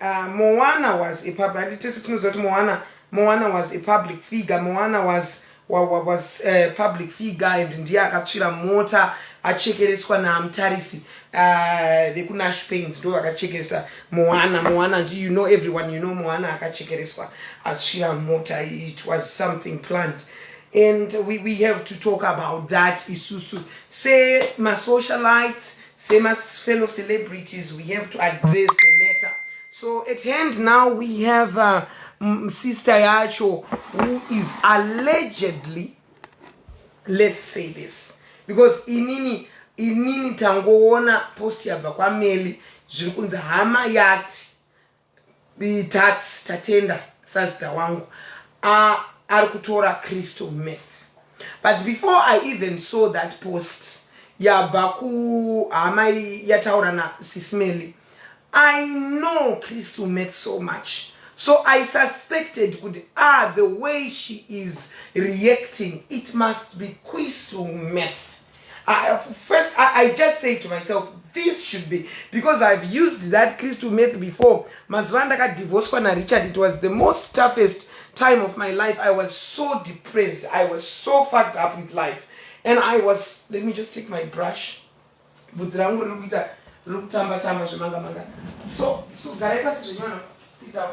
Uh, Moana was a public, and it is Knuzot Moana, Moana was a public figure, Moana was was a public figure and ndiye akatsvira mota achekereswa namutarisi uh, vekunash pains ndo vakachekeresa moana moana ndi you know everyone you know moana akachekereswa atsvira mota it was something plant and we, we have to talk about that isusu semasocialites Sema fellow celebrities, we have to address the matter. So at hand now we have uh, Sister Yacho who is allegedly, let's say this, because inini inini tangoona post yabva kwameli zviri kunzi hama yati Tats Tatenda sazita wangu uh, ari kutora crystal meth but before i even saw that post yabva kuhama yataura na sismeli i know crystal meth so much so i suspected kuti ah the way she is reacting it must be crystal meth I, first, I, I just say to myself, this should be, because I've used that crystal meth before. Mazuva ndakadivhoswa na Richard, it was the most toughest time of my life. I was so depressed. I was so fucked up with life. And I was, let me just take my brush. Bvudzi rangu riri kuita, riri kutamba tamba zvemanga manga. So, so garai pasi zvenywana, sit down.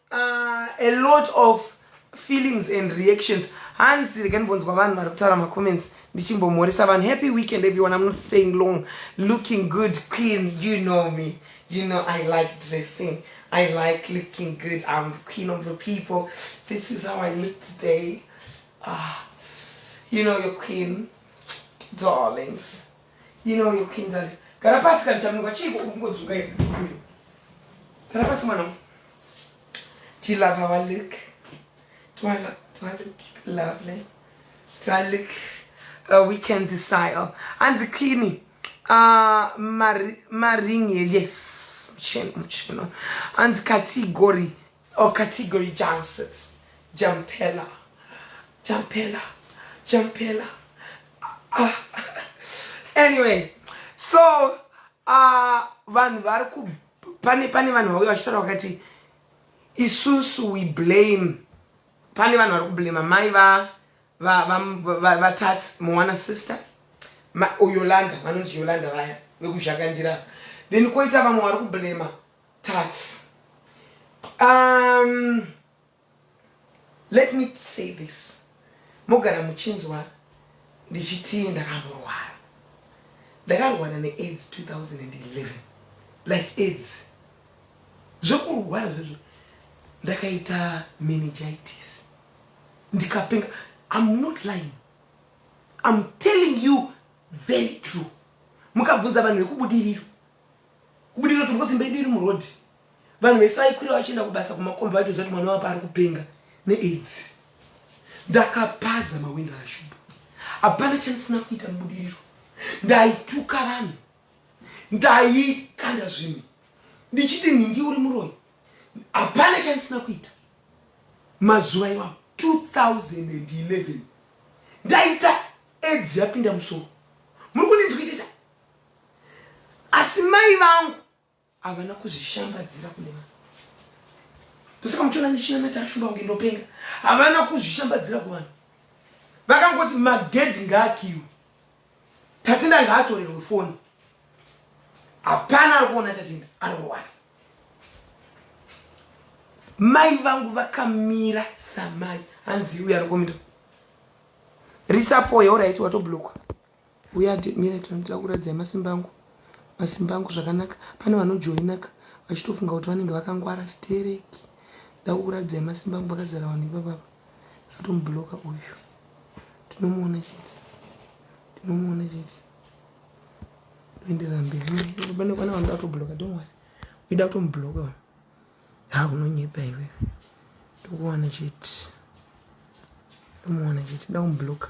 uh, a lot of feelings and reactions hanzi rega ndimbonzwa vanhu vari kutaura macomments ndichimbomhoresa vanhu happy weekend everyone i'm not staying long looking good queen you know me you know i like dressing i like looking good i'm queen of the people this is how i look today ah, you know your queen darlings ino yokuinzale kana pasi kanichamuka chiiko uri kungodzuka here kana pasi mwana tilava valik twalik lovely twalik uh, weekends style hanzi cleani uh, maring yes mucheno mucheno hanzi katigori Or category jumpsuits. Jumpella. Jumpella. Jumpella. Ah. anyway, so uh, vanhu vari ku pane pane vanhu vauya vachitaura vakati isusu we blame pane vanhu vari kublema mai va vatats mowana sister yolanda vanonzi yolanda vaya vekuzhakandira then koita vamwe vari kublema Tats. Um, let me say this. Mogara muchinzwa ndichiti ndakamborwara. Ndakarwara neAIDS 2011. Like AIDS. Zvekurwara zvezvo ndakaita meningitis. Ndikapenga. I'm not lying. I'm telling you very true. Mukabvunza vanhu vekubudiriro. kubudikira kuti ngozi mbaidu iri muroad vanhu vesaikwira vachienda kubasa kumakomba vaitoziva kuti mwana wapa ari kupenga neaids ndakapaza mawinda ashuba hapana chandisina kuita mubudiriro ndaituka vanhu ndaikanda zvinhu ndichiti nhingi uri muroyi hapana chandisina kuita mazuva iwawo 2011 ndaita edzi yapinda musoro muri kundinzwisisa asi mai vangu havana kuzvishambadzira kune vanhu ndosaka muchiona ndichinamata shumba kunge ndopenga havana kuzvishambadzira kuvanhu vakangoti magedhi ngaakiwe tatinda ngaatorerwe foni hapana ari kuona tatinda ari kuwana mai vangu vakamira samai hanzi uyo ari kumira risapoya oraiti watoblokwa Uya mire tinoda kuradzai masimba angu masimba angu zvakanaka pane vanojoinaka vachitofunga kuti vanenge vakangwara stereki ndakukuradzai masimba angu vakazara vanhu ivavava zvatomubloka uyu tinomuona chete tinomuona chete toenderera mberi pane kwana vanoda kutobloka domwari uida kutomubloka vanhu ha unonyepa iwewe ndokuwana chete ndomuwana chete da kumubloka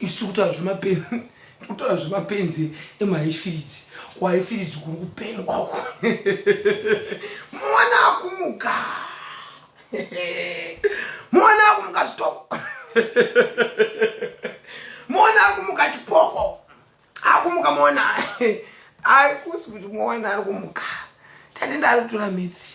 isu tikutaura zvemapenzi tikutaura zvemapenzi emahaifiriji kuhaifiriji kuri kupengwa uko mwana akumuka mwana akumuka stop mwana akumuka chipoko akumuka mwana aikusi kuti mwana ari kumuka tatenda ari kutora midzi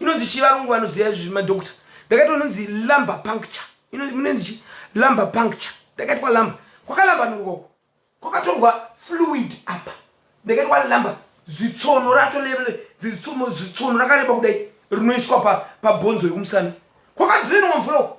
inonzi chii varungu vanoziva izvi madokta ndakaitwa inonzi lumber puncture inonzi chii lumber puncture ndakaitwa lumber kwakalamba nongoko kwakatorwa fluid apa ndakaitwa lumber zitsono racho zitsono rakareba kudai rinoiswa pabhonzo pa yekumusana kwakadrenwa mvura uko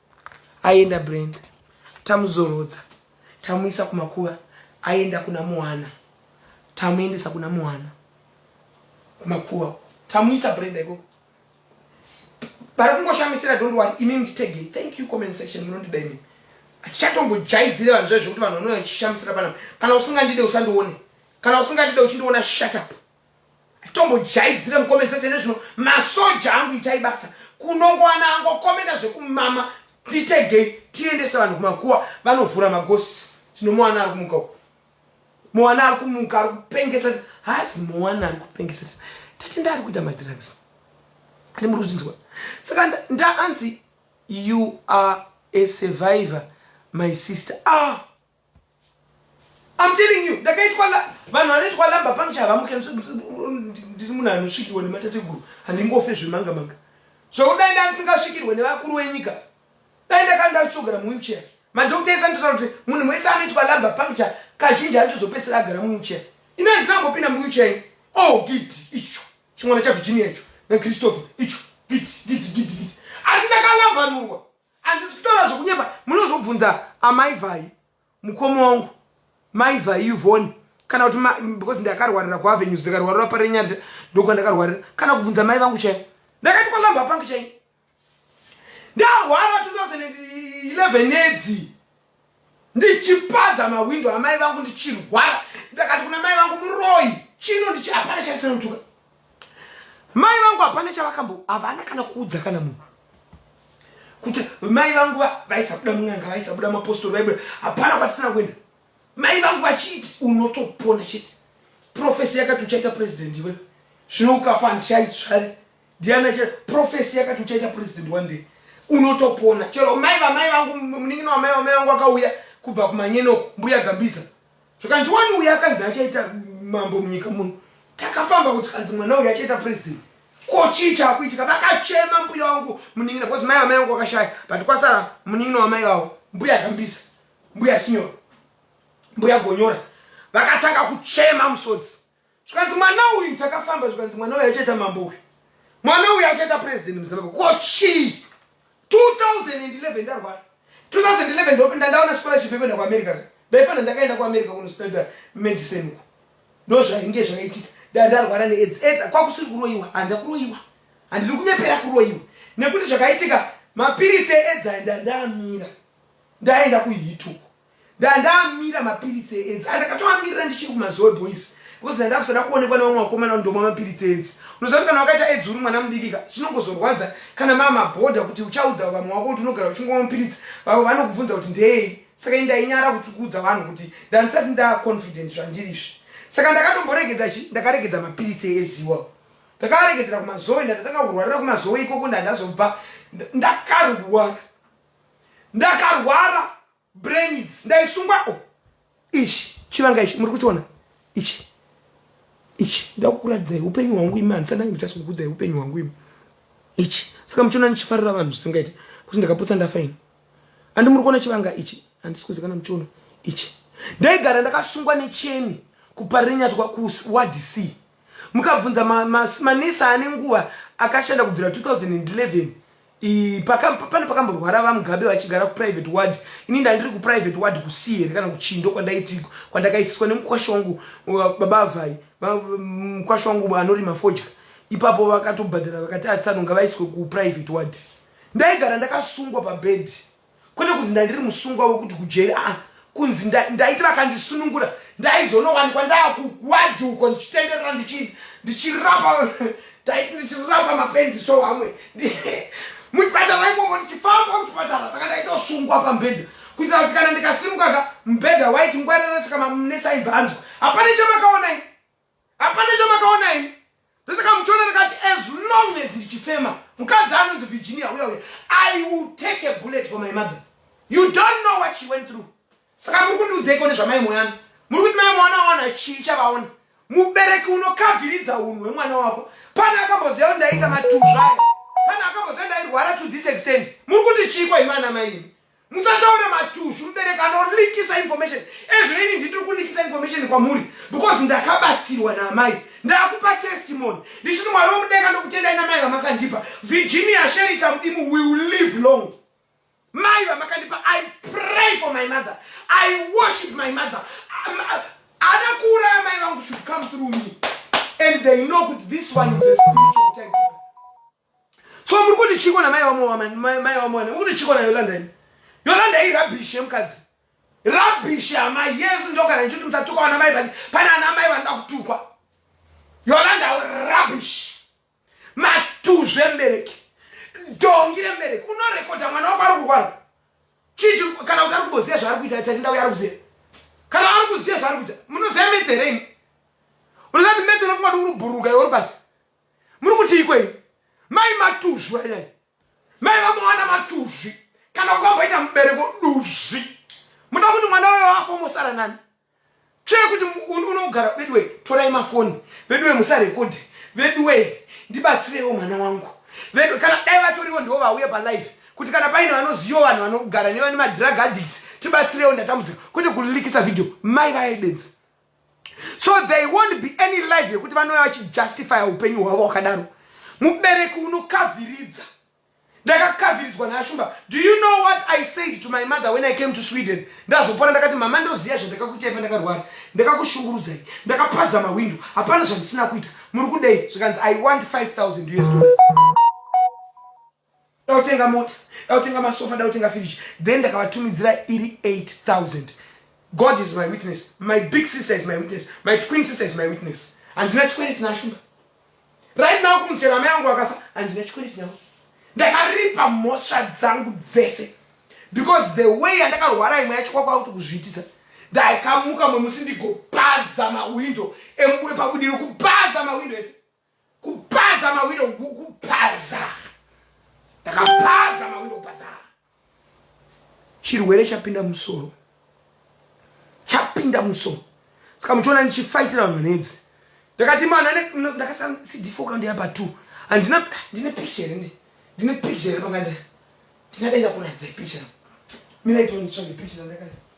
Aenda Brenda. Tamuzorodza. Tamuisa kumakuva. Aenda kuna Muhana. Tamuendesa kuna Muhana. Kumakuva. Tamuisa Brenda ikoko. Vari kungoshamisira don't worry. Imi munditege. Thank you comment section munondida imi. Achatombojayidzire vanhu zvaizvo kuti vanhu vanouya vachishamisira panapa. Kana usingandide usandione. Kana usingandide uchindiona shut up. tombojaidzira mukomeni sate nezvino masoja angu itai basa kunongowana angokomena zvekumama titegei tiendese vanhu kumakuwa vanovhura magosi tinomuwana ari kumuka uku muwana ari kumuka ari kupengesa hazi muwana ari kupengesa tati ndaari kuita madrugs ati muri kuzvinzwa saka ndaanzi you are a survivor my sister ah I'm telling you, ndakaitwa vanhu vanoitwa lamba pamcha havamuke ndiri munhu anosvikirwa nematateguru handingofe zvemanga manga zvokudai nda ndisingasvikirwe nevakuru wenyika dai ndakanda kuchogara muwheelchair madokta ese anototaura kuti munhu wese anoitwa lamba pamcha kazhinji anotozopesera agara muwheelchair ino handina kungopinda muwheelchair oh gidi icho chimwana chavirginia icho nakristopher icho gidi gidi gidi gidi asi ndakalambanurwa Andisi kutaura zvokunyepa munozobvunza amai vhai mukoma wangu mai vhai yuvhoni kana kuti because ndakarwarira kuavenues ndikarwarira parenyanja ndokwandakarwarira kana kubvunza mai vangu chaivo ndakati kwalamba pangu chaivo ndarwara 2011 nedzi ndichipaza mahwindo amai vangu ndichirwara ndakati kuna mai vangu muroyi chino ndichi hapana chaisanotuka mai vangu hapana chavakambo havana kana kuudza kana munhu kuti mai vangu vaisabuda mun'anga vaisabuda mapostori vaibuda hapana kwatisina kuenda mai vangu vachiti unotopona chete profesi yakati uchaita purezidendi iwe zvino ukafa handichaitsvare ndiani acha profesi yakati uchaita president one day unotopona chero mai vamai vangu munin'ina wamai vamai vangu akauya kubva kumanyeno mbuya gambiza zvikanzi wani uya akanzi achaita mambo munyika muno takafamba kuti kanzi mwana uyu achaita president ko chii chakuitika vakachema mbuya wangu munin'ina bcause mai vamai vangu vakashaya but kwasara munin'ina wamai vavo mbuya gambisa mbuya sinyora mbuya gonyora vakatanga kuchema musodzi zvikanzi mwana uyu takafamba zvikanzi mwana uyu achaita mambo uyu mwana uyu achaita president muzimbabwe ko chii 2011 ndarwara 2011 ndopinda ndaona scholarship yekuenda kuamerica ndaifana ndakaenda kuamerica kunostanda medicine uko ndo zvainge zvakaitika da ndarwara neaids aids kwakusiri kuroyiwa handa kuroyiwa handiri kunyepera kuroyiwa nekuti zvakaitika mapiritsi eaids aenda ndaamira ndaenda kuhituko Ndandamira mapiritsi eedzi andakatoamirira ndichiri kumazoe boys because ndanda kusada kuonekwa nevamwe vakomana ndomwa mapiritsi eedzi. Unoziva kuti kana wakaita eedzi uri mwana mudikika zvinongozorwadza kana mama bhodha kuti uchaudza vamwe wako kuti unogara uchingwa mapiritsi vavo vanokubvunza kuti ndei saka ini ndainyara kuti kuudza vanhu kuti ndandisati ndaconfident zvandirizvi saka ndakatomboregedza chi ndakaregedza mapiritsi eedzi iwawo ndakaregedzera kumazoe ndatanga kurwarira kumazoe ikoko ndandazobva ndakarwara ndakarwara brains ndaisungwa o ichi chivanga ichi muri kuchiona ichi ichi ndakukuratidzai upenyu hwangu imi handisandange ndichasi kukudzai upenyu hwangu imi ichi saka muchiona ndichifarira vanhu zvisingaiti kuti ndakaputsa ndafaini andi muri kuona chivanga ichi handisi kuzikana muchiona ichi ndaigara ndakasungwa necheni kuparinyatwa kuwadi c mukabvunza manesi ma, ma ane nguva akashanda kubvira 2011 I, paka, pane pakamborwara vamugabe vachigara kuprivate ward ini ndandiri kuprivate ward kusii here kana kuchindo kwandaitiko kwandakaisiswa nemukwasha wangu baba avai mukwasha wangu anorima fodya ipapo vakatobhadhara vakati atsanonga vaiswe kuprivate ward ndaigara ndakasungwa pabhedhi kwete kunzi ndandiri musungwa wekuti kujeri a kunzi ndaiti vakandisunungura ndaizonowanikwa ndaakugwajuko ndichitenderera ndichirapa ndaiti ndichirapa mapenzi so amwe muchipatara imomo ndichifamba muchipatara saka ndaitosungwa pambhedha kuitira kuti kana ndikasimuka ka mbhedha waiti ngwareretsika mamunesa ibvanzwa hapana chamakaonai hapana chamakaona ini ndosaka muchiona ndakati as long as richifema mukadzi anonzi virginia uya uya i will take a bullet for my mother you don't know what she went through saka muri kundiudzeiko nezvamai moyana muri kuti mai mwana wawana chii chavaona mubereki unokaviridza unhu hwemwana wako pane akamboziva kuti ndaita matuzvayo pane akamboziva ndairwara to this extent muri kuti chii kwaimana maini musataure matuzvi mubereki anolikisa information ezvino ini nditiri kulikisa information kwamuri because ndakabatsirwa naamai ndakupa testimony ndichiti mwari womudeka ndokutendai namai vamakandipa virginia sherita mudimu will live long mai vamakandipa i pray for my mother i worship my mother ana kuuraya mai vangu should come through me and they know kuti this one is a spiritual time so muri kuti chiko namai wamoamani mai wamoani muri kuti chiko nayolanda ini yolanda i rubbish yemukadzi rubbish amai yes ndogara ndichiti musatuka wana mai vani pane ana amai vanoda kutukwa yolanda rubbish matuzve mbereki dongi rembereki unorekodha mwana wako ari kurwara chichi kana kuti ari kuboziva zvaari kuita tatinda uya ari kuziva kana ari kuziva zvaari kuita munoziva medereini unoziva kuti medereini kumati uri bhuruka yori basi muri kuti ikwei mai matuzvi ayai mai vamowana matuzvi kana vakamboita mubereko duzvi muda kuti mwana wayo afa mosara nani chee kuti unogara veduwe torai mafoni veduwe musarekodhi veduwe ndibatsirewo mwana wangu vedu kana dai vatoriwo ndivo vauye palife kuti kana paine vanoziva vanhu vanogara nevane madrug addicts tibatsirewo ndatambudzika kwete kulilikisa vhidhiyo mai vayaidenzi so they won't be any live yekuti vanouya vachijustifya upenyu hwavo wakadaro mubereki unokavhiridza ndakakavhiridzwa nashumba do you know what i said to my mother when i came to sweden ndazopona ndakati mama ndoziva zvandakakuitai pandakarwara ndakakushungurudzai ndakapaza mahwindo hapana zvandisina kuita muri kudei zvikanzi i want 5000 us dollars da kutenga mota da kutenga masofa da kutenga fridge then ndakavatumidzira iri 8000 god is my witness my big sister is my witness my twin sister is my witness handina chikwereti nashumba right now kumuchera mai yangu akafa handina chikwereti navo ndakaripa mhosva dzangu dzese because the way yandakarwara imwe yacho kwakwa kuti kuzviitisa ndaikamuka mwemusi ndigopaza mawindo emukure pabudiro kupaza mawindo ese kupaza mawindo kupaza ndakapaza mawindo kupaza chirwere chapinda musoro chapinda musoro saka muchiona ndichifaitira vanhu vanedzi ndakati mwana ndakasana cd4 kandiya pa two handina ndine picture ndi ndine picture panganda ndingadenda kuratidza picture miraitonditsvage picture ndakati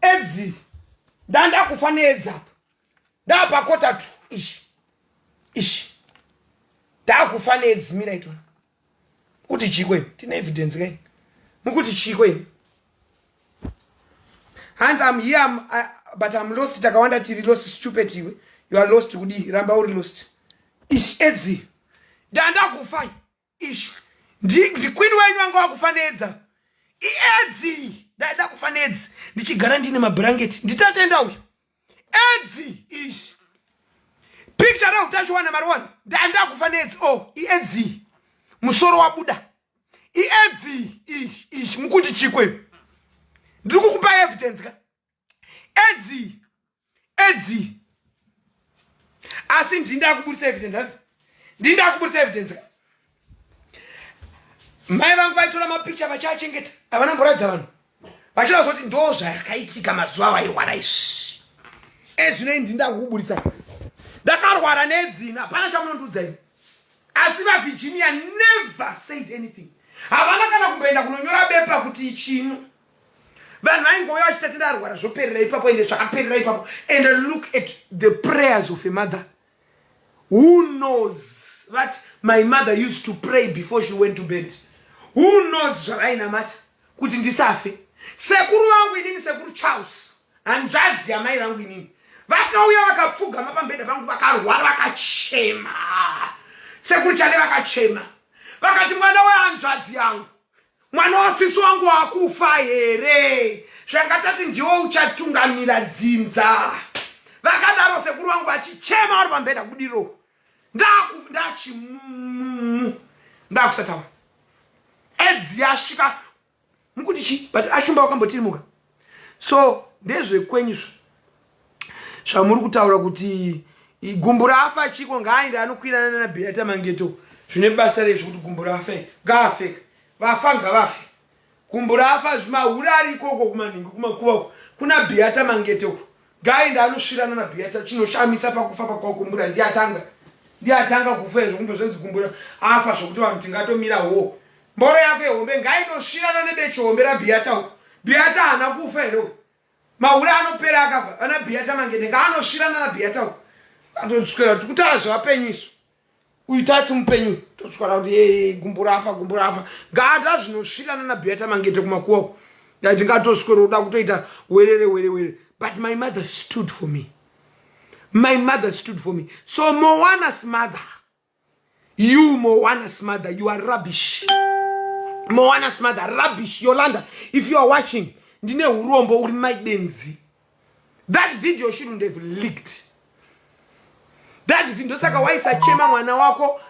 edzi ndandakufa needzi apa ndapakota tu ishi ishi ndakufa needzi mira itona kuti chikwe tine evidence kai mukuti chikwe hanzi am here I'm, I, but am lost takawanda tiri lost stupid iwe you are lost kudii ramba uri lost ishi edzi ndandakufa Ish, ndi, ndi queen wenyu anga wakufa nedza iedzi ndaida kufa nedzi ndichigara ndine mabhurangeti nditatenda uyu edzi ish picture reutachiwana mariwana ndaenda kufa nedzi o oh, iedzi musoro wabuda iedzi ish ish mukuti chikwe ndiri kukupa evidence ka edzi edzi asi ndini ndakubudisa evidence hanzi ndini ndakubudisa evidence ka mai vangu vaitora mapikicha vachiachengeta havana mboradza vanhu vachida kuzoti ndo zvakaitika mazuva avo airwara izvi ezvino ini ndini ndakukubudisa ndakarwara nedzina hapana chamunondiudza ini asi vavirginia never said anything havana kana kumboenda kunonyora bepa kuti chino vanhu vaingouya vachita tida arwara zvoperera ipapo ende zvakaperera ipapo and look at the prayers of a mother who knows that my mother used to pray before she went to bed who knows zvavainamata kuti ndisafe sekuru vangu inini sekuru charles hanzvadzi yamai vangu inini vakauya vakapfugama pambeda vangu vakarwara vakachema sekuru chale vakachema vakati mwana wehanzvadzi yangu mwana wasisi wangu wakufa here zvanga tati ndiwo uchatungamira dzinza vakadaro sekuru vangu vachichema vari pambeda kudiro ndachimumu ndakusataura edzi yasvika mukuti chii but ashumba wakambotirimuka so ndezvekwenyu zvamuri kutaura kuti gumbu rafa chiko ngaaende anokwirana nana beata mangeto zvine basa rezvo kuti gumbu rafa ngaafeka vafa ngavafe gumbu rafa zvimahure ari ikoko kumanhingi kumakuva uko kuna beata mangeto uko gai ndaanosvirana na beata chinoshamisa pakufa pakwakumbura ndiye atanga ndiye atanga kufa izvo kunge zvenzi kumbura afa zvokuti vanhu tingatomira wo mboro yako yehombe ngainosvirana nebechihombe rabeata uko beata haana kufa here uko mahure anopera akafa ana beata mangende ngaanosvirana na beata uko atoswera tikutaura zvevapenyu isu uyu tasi mupenyu toswara kuti ee gumbo rafa gumbo rafa ngaata zvinosvirana nabeata mangete kumakuwa uko ndaiti ngatoswero uda kutoita werere were were but my mother stood for me my mother stood for me so mowanas mother you mowanas mother you are rubbish mowanas mother rubbish yolanda if you are watching ndine urombo uri maidenzi that video shouldn't have leaked that video ndosaka waisachema mwana wako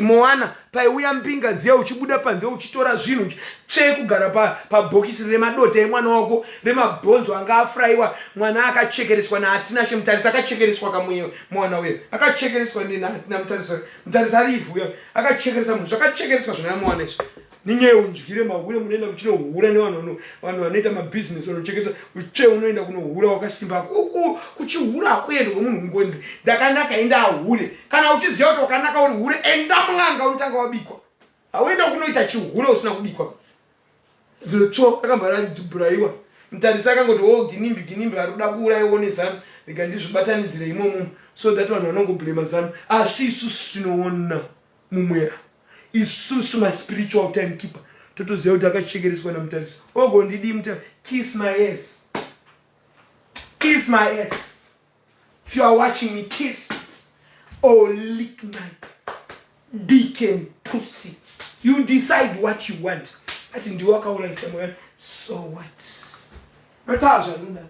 moana paiuya mbinga dziya uchibuda panze uchitora zvinhu tsvee kugara pabhokisi pa remadota emwana wako remabhonzo anga afurayiwa mwana akachekereswa naatinashe mutarisi akachekereswa kamwe mwana uye akachekereswa nenatina mutarisi mutarisi ari ivhu uya akachekeresa munhu zvakachekereswa zvona mwana izvi ninye undyire mahure munoenda muchinohura nevanhu vanhu vanoita mabhizinesi vanochekesa uche unoenda kunohura wakasimba kuku kuchihura hakuende kwemunhu kungonzi ndakanaka enda ahure kana uchiziva kuti wakanaka uri hure enda mun'anga unotanga wabikwa hauenda kunoita chihure usina kubikwa zvotsvo akabva radhubhuraiwa mutarisi akangoti wo oh, ginimbi ginimbi ari kuda kuuraya one zanu rega ndizvibatanidzire imomo so that vanhu vanongoblema zanu asi isusu tinoona mumwera isusu maspiritual time keeper totoziva kuti akachekereswa namutarisi ogondidii muta kiss my ass kiss my ass if you are watching me kiss or lick my dick and pussy you decide what you want ati ndiwo akaurayisa mwana so what matazva nodaro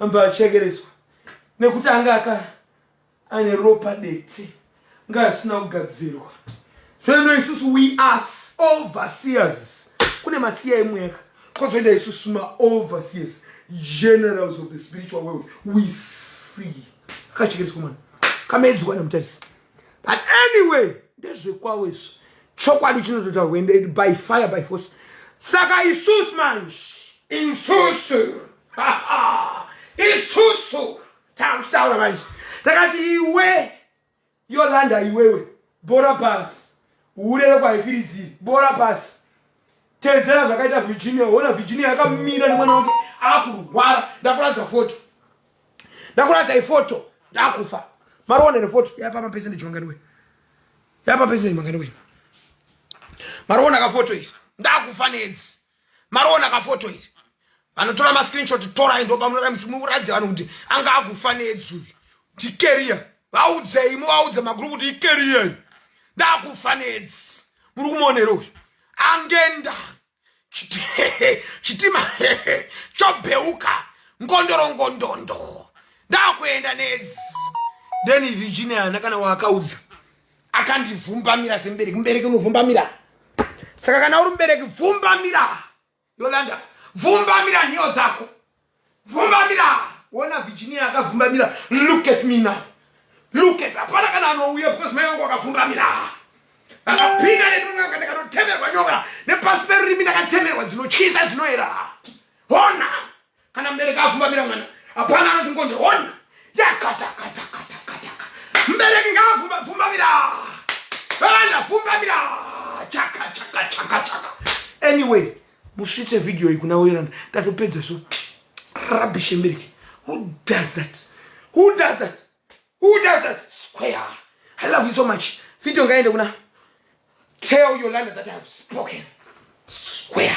anobva achekeretswa nekuti anga aka ane ropa dete nga asina kugadzirwa zvoino isusu we are overseers kune masiya emweka kwazoenda isusu maoverseers generals of the spiritual world we see akachekeretswa mwana kamedzwa nemutarisi but anyway ndezvekwavo izvo chokwadi chinototaurwa ende by fire by force saka isusu manje isusu isusu takuchitaura manje takati iwe yolanda iwewe bora pasi urere kwaifiridziri bora pasi tedzera zvakaita virginia ona virginia yakamira nemwana wake akurwara ndakuratidza foto ndakuratidza ifoto ndakufa marionere foto yapa mapese ndichimanganiwe yapa pese ndichimanganiwe mariona kafoto iri ndakufa nedzi mariona kafoto iri vanotora mascreenshot torai ndobamuratidza vanhu kuti anga akufa nedzi uyu ndikeriya vaudzei muvaudze maguru kuti ikeriya ndakufa nedzi muri kumonero uyu angenda chitima chobheuka ngondoro ngondondo ndakuenda nedzi then virginia hana kana waakaudza akandivhumbamira semubereki mubereki unovhumbamira saka kana uri mubereki vhumbamira yolanda vhumbamira nhiyo dzako Vumbamira! Wona Virginia akavumbamira. Look at me now. Look at hapana kana anouya because mai wangu akavumbamira. Akapinda nemunanga ndakatotemerwa nyoka nepasi perurimi ndakatemerwa dzinotyisa dzinoera. Hona! Kana mbereki avumbamira mwana. Hapana anoti ngonde hona. Yakata kata kata kata. Mbereki ngaavumbamira. Vana vumbamira. Chaka chaka chaka chaka. Anyway, musvitse video iyi kuna oiranda tatopedza so rubbish emeriki who does that who does that who does that square i love you so much video ngaende kuna tell yolanda that i have spoken square